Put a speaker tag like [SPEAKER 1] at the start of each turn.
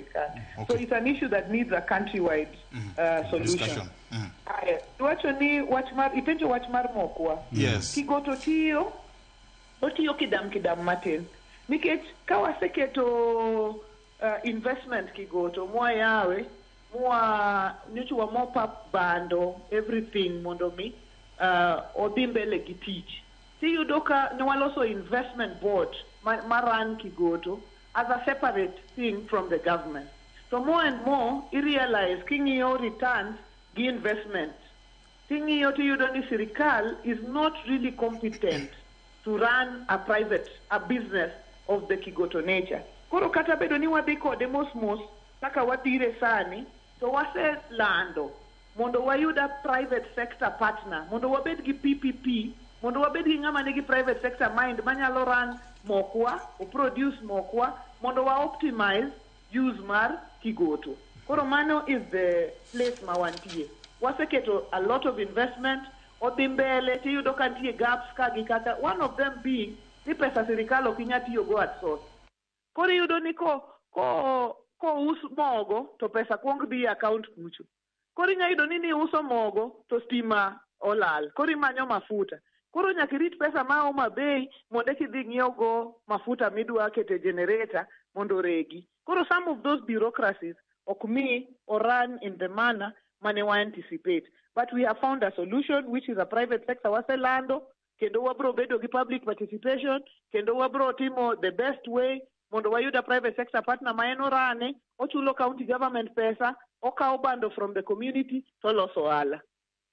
[SPEAKER 1] sirkal. So Okay. it's an issue that needs a countrywide uh, solution. Discussion. Mm. Haya, iwacho ni wach mar ipenjo wach mar mokwa. Yes. Kigo to
[SPEAKER 2] tiyo
[SPEAKER 1] otiyo kidam kidam matin nikech ka waseketo uh, investment kigoto mwayawe mwa nyocha wamopa bando everything mondo mi uh, odhi mbele gi tich tiyudo ka ne waloso investment board ma, ma run kigoto as a separate thing from the government to more and more i realize king'iyo returns gi investments ting'iyo tiyudo ni sirikal is not really competent to run a private a business of the kigoto nature koro kata bedo ni wadhi kode mos mos kaka wadhire sani to waselando mondo wayud a private sector partner, mondo wabed gi PPP, mondo wabed gi ng'ama nigi private sector mind manyalo run mokwa, o produce mokwa mondo wa optimize use mar Kigoto. Koro mano is the place ma wantie. Waseketo a lot of investment, odhi mbele tiyudo ka nitie gaps ka gi kacha, one of them being ni pesa sirikal ok inya tiyogo at source. Koro iyudo ni ko ko kous mogo to pesa kuong dhi e account kucho. Koro inya yudo ni niuso mogo to stima olal. Koro imanyo mafuta. Koro nyaka irit pesa ma Homa Bay mondo eki idhi ng'iew go mafuta midwa kete generator mondo oregi. Koro some of those bureaucracies ok mi o run in the manner mane wa anticipate. But we have found a solution which is a private sector waselando kendo wabro bedo gi public participation kendo wabro timo the best way mondo wayud a private sector partner ma en orane ochulo county government pesa okawo bando from the community toloso ohala